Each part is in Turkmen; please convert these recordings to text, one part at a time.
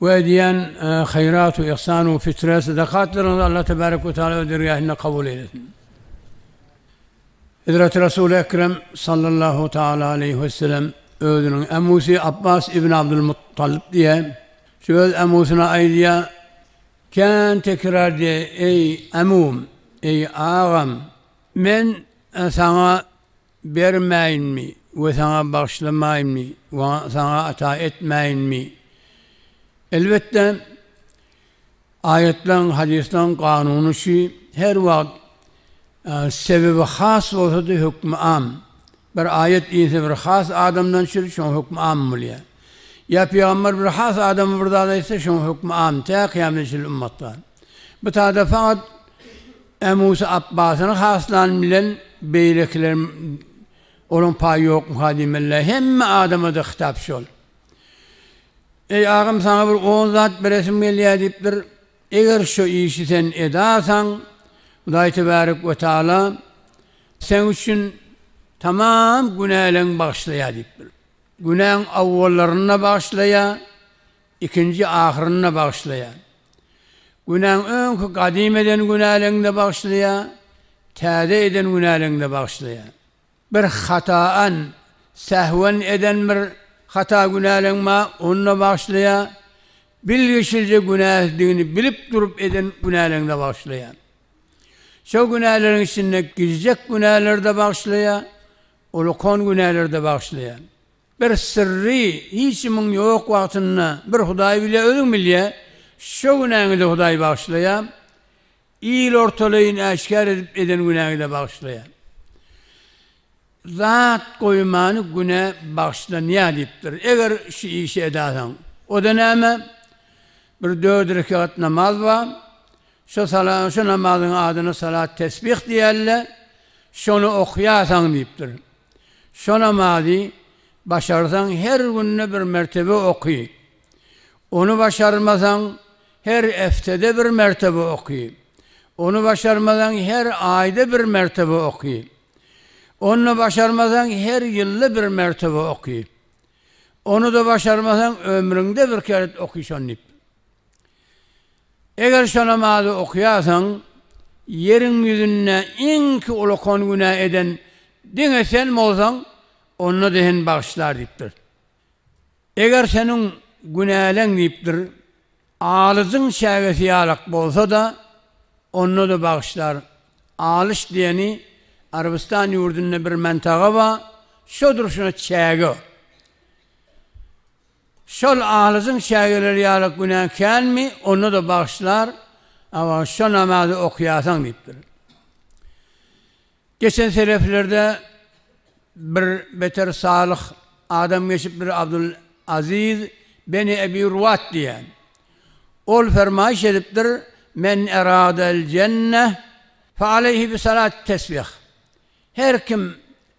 Bu edýän haýratu yhsanu fitre sadakatlaryňyzy Allah tebarek we taala öz dergähinde kabul eýlesin. Hezreti Resul Ekrem sallallahu taala aleyhi we sellem özüniň emusy Abbas ibn Abdul Muttalib diýe şu öz emusyna aýdýa kän tekrar diýe eý emum eý agam men saňa bermäýinmi we saňa bagyşlamaýynmy we saňa ata etmäýinmi? Elbetde, aýatlaryň, hadyslaryň kanuny şu, her wagt sebebi has bolsa-da hökmi am. Bir aýat inse bir has adamdan düşer, şoň hökmi am bolýar. Ýa pygamber bir has adama bir zat aýtsa, şoň hökmi am, tä kyýametçe çenli ummatlar. Bu taýda fakat Ämusa Apbasyny haslan bilen beýlekiler olaň paýy ýokmyka diýmelidä. Hemme adamada hytap şol. Eý agam saňa bir on zat beresim gelýä diýipdir. Eger şu işi sen edasaň Hudaý tebarek we taala seň üçin tamam günäleň bagyşlaýa diýipdir. Günäň awwallaryny-da bagyşlaýa, Ikinji ahyryny-da bagyşlaýar. Günäň öňki gadym eden günäleňi-de bagyşlaýar, täze eden günäleňi-de bagyşlaýar. Bir hataän, sähwen eden bir hata günäleň bar, ony-da bagyşlaýar. Bilgiçlije günäsizdigini bilip durup eden günäleňi-de bagyşlaýar. Şol günäleriň içinde gijjek günäleri-de bagyşlaýar, ulkan günäleri-de bagyşlaýar. Bir syrry hiç kimiň ýok wagtynda bir Hudaý bilýär, özüň bilýär. Şo günäňi-de Hudaý bagyşlaýar. Il ortalaýyn äşgär edip eden günäňi-de bagyşlaýar. Zat goýmany günä bagyşlanýar diýipdir. Eger şu işi edasaň. O-da näme? Bir dört rekegat namaz bar. Şo sala, şo namazyň adyna salat-tesbih diýerler. Şony okaýarsaň diýipdir. Şo namazy başarsaň her günde bir mertebe oky. Ony başarmasaň her eftede bir mertebe oky. Ony başarmasaň her aýda bir mertebe oky. Ony-da başarmasaň her ýylda bir mertebe oky. Ony-da başarmasaň ömrüňde bir keret oky şony diýip. Eger şo namazy okaýarsaň, ýeriň ýüzünde iňki ulakan günä eden diňe sen bolsaň, onda-da seni bagyşlar diýipdir. Eger seniň günäleň diýipdir, alyjyň çägesi ýalak bolsa-da, onda-da bagyşlar. Alyş diýeni Arabystan ýurdunda bir mentaga bar, şo durşuna çäge. Şol alyjyň çägeleri ýaly günäň känmi, onda-da bagyşlar, awa, şo namazy okaýarsaň diýipdir. Geçen seleflerde bir beter salyh adam geçipdir, Abdul Aziz beni Ebi Ruwat diýen. Ol fermaýyş edipdir, Men eradel jenne fe aleyhi bi salat tesbih. Her kim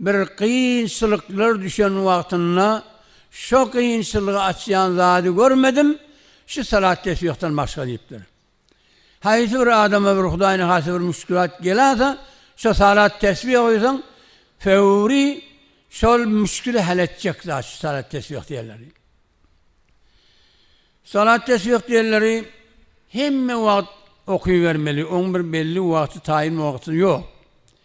Bir kynçylyklar düşen wagtynda şo kynçylygy açýan zady görmedim, şu salat tesbihden başga diýipdir. Haýsy bir adama bir hudaýyna has bir müşkilat gelasa, şo salat tesbih oýasaň, föwri şol müşkili hal etjek zat şu salat tesbih diýenleri. Salat tesbih diýenleri hemme wagt okybermeli, oň bir belli wagty taýyn wagty ýok.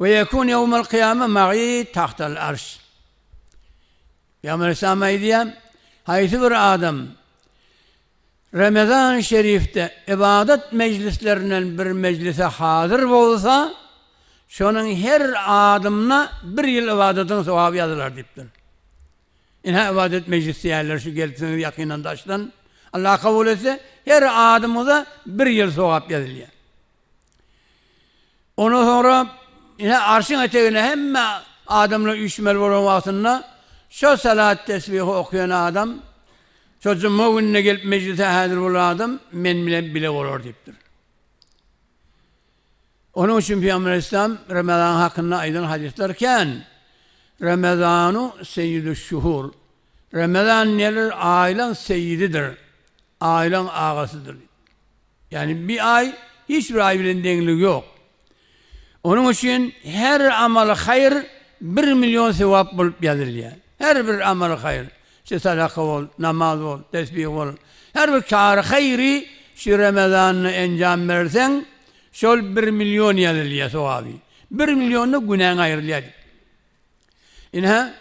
Ve yekun yevmel kıyame ma'i tahtel arş. Peygamber Aleyhisselam aýdýa, haýsy bir adam Ramazan-ı şerifde ibadet mejlislerinden bir mejlise hazyr bolsa, şonuň her adymyna bir ýyl ibadetiň sogaby ýazylar diýipdir. Ine ibadet mejlis diýerler şu gelipsiňiz ýakyndan daşdan. Allah kabul etse, her adymyňyza bir ýyl sogap ýazylýar. Ondan soňra ine arşyň etegine hemme adamlar üýşmeli bolan wagtynda şo salat tesbihi okaýan adam, şo juma gününe gelip mejlise häzir bolan adam men bilen bile bolar diýipdir. Onuň üçin Pygamber aleyhisselam Ramazan hakynda aýdan hadyslar kän. Ramazanu seýidüş şuhur. Ramazan nedir? Aýlaň seýididir. Aýlaň agasydyr. Ýagny bir aý hiç bir aý bilen deňligi ýok. Onuň üçin her amaly haýyr bir million sewap bolup ýazylýar. Her bir amaly haýyr. Şu sadaka bol, namaz bol, tesbih bol. Her bir kary haýyry şu Ramazanda enjam berseň, şol bir million ýazylýar sogaby. Bir millionda günäň aýrylýar diýip. Ine,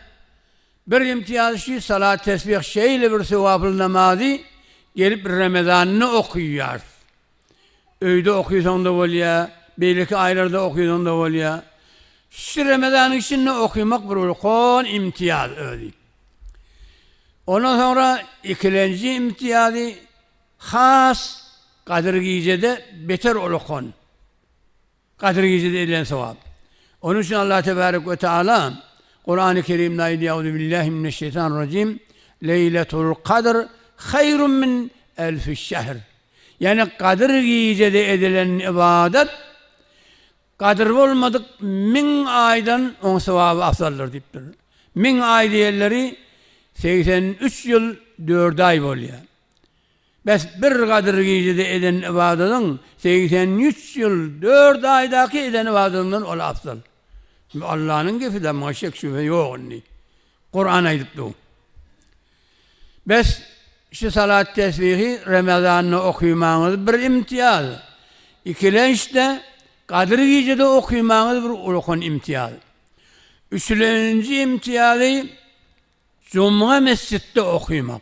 bir imtiýazy şü salat-tesbih şeýle bir söwaply namazy gelip Ramazanda okyýas. Öýde okysaň-da bolýa, beýleki aýlarda okysaň-da bolýa. Şü Ramazanyň içinde okymak bir ulkan imtiýaz özi. Ondan soňra ikilenji imtiýazy has Gadyr gijede beter ulukan. Gadyr gijede edilen sogap. Onuň üçin Allah tebarek we taala Kurany Kerimde aýdýar, Auzubillahi mineşşeýtanirrajim, Leýletul Kadr haýrun min elfi şehr. Ýagny Gadyr gijede edilen ybadat Gadyr bolmadyk müň aýdan oň sogaby afzaldyr diýipdir. Müň aý diýenleri segsen üç ýyl dört aý bolýar. Bäs bir Gadyr gijede eden ybadadyň segsen üç ýyl, dört aýdaky eden ybadatyndan ol afzal. Bu Allanyň gepidä muňa şek-şübhe ýok indi. Kuran aýdyp dur. Bäs şu salat tesbihi Ramazanda okymaňyz bir imtiýaz. Ikilençde Gadyr gijede okymaňyz bir ulkan imtiýaz. Üçülenji imtiýazy Juma mesjitde okymak.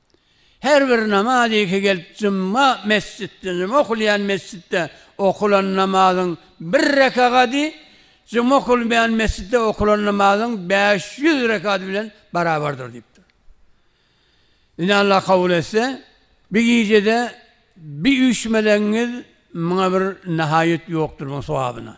Her bir namaz iki gelip jumma mesjitde, juma okulýan mesjitde okulan namazyň bir rekagady juma okulmaýan mesjitde okulan namazyň bäş ýüz rekady bilen barabardyr diýipdir. Indi Allah kabul etse, bir gijede bir üýşmeleňiz muňa bir nahaýat ýokdur muň sogabyna.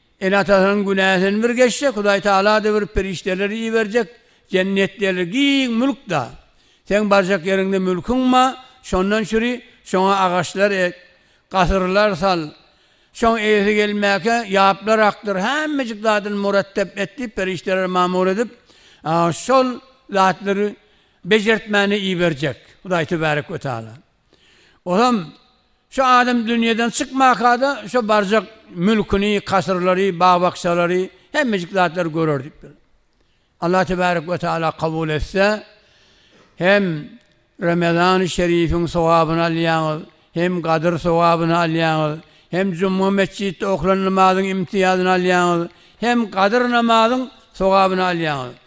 Ene-atasynyň günäsini bir geçsek, Hudaý Tagala-da bir perişdeleri iberjek, jennetdeler, giň mülk-da. Seň barjak ýeriňde mülküň ma, şondan çüri, şoňa agaçlar ek, gasyrlar sal. Şoň eýesi gelmäkä, ýaplar akdyr, hemmejik zadyny muratap et diýip, perişdeleri mamur edip, şol zatlary bejertmäne iberjek Hudaý Tebärek we Tagala. Olam, şu adam dünýeden çykmaka-da, şo barjak mülküni, kasyrlary, bag-bakjalary, hemmejik zatlary görer diýipdir. Allah tebärek we taala kabul etse, hem Remezan-y Şerifiň sogabyny alýaňyz, hem Gadyr sogabyny alýaňyz, hem juma metjitde okulan namazyň imtiýazyny alýaňyz, hem Gadyr namazyň sogabyny alýaňyz.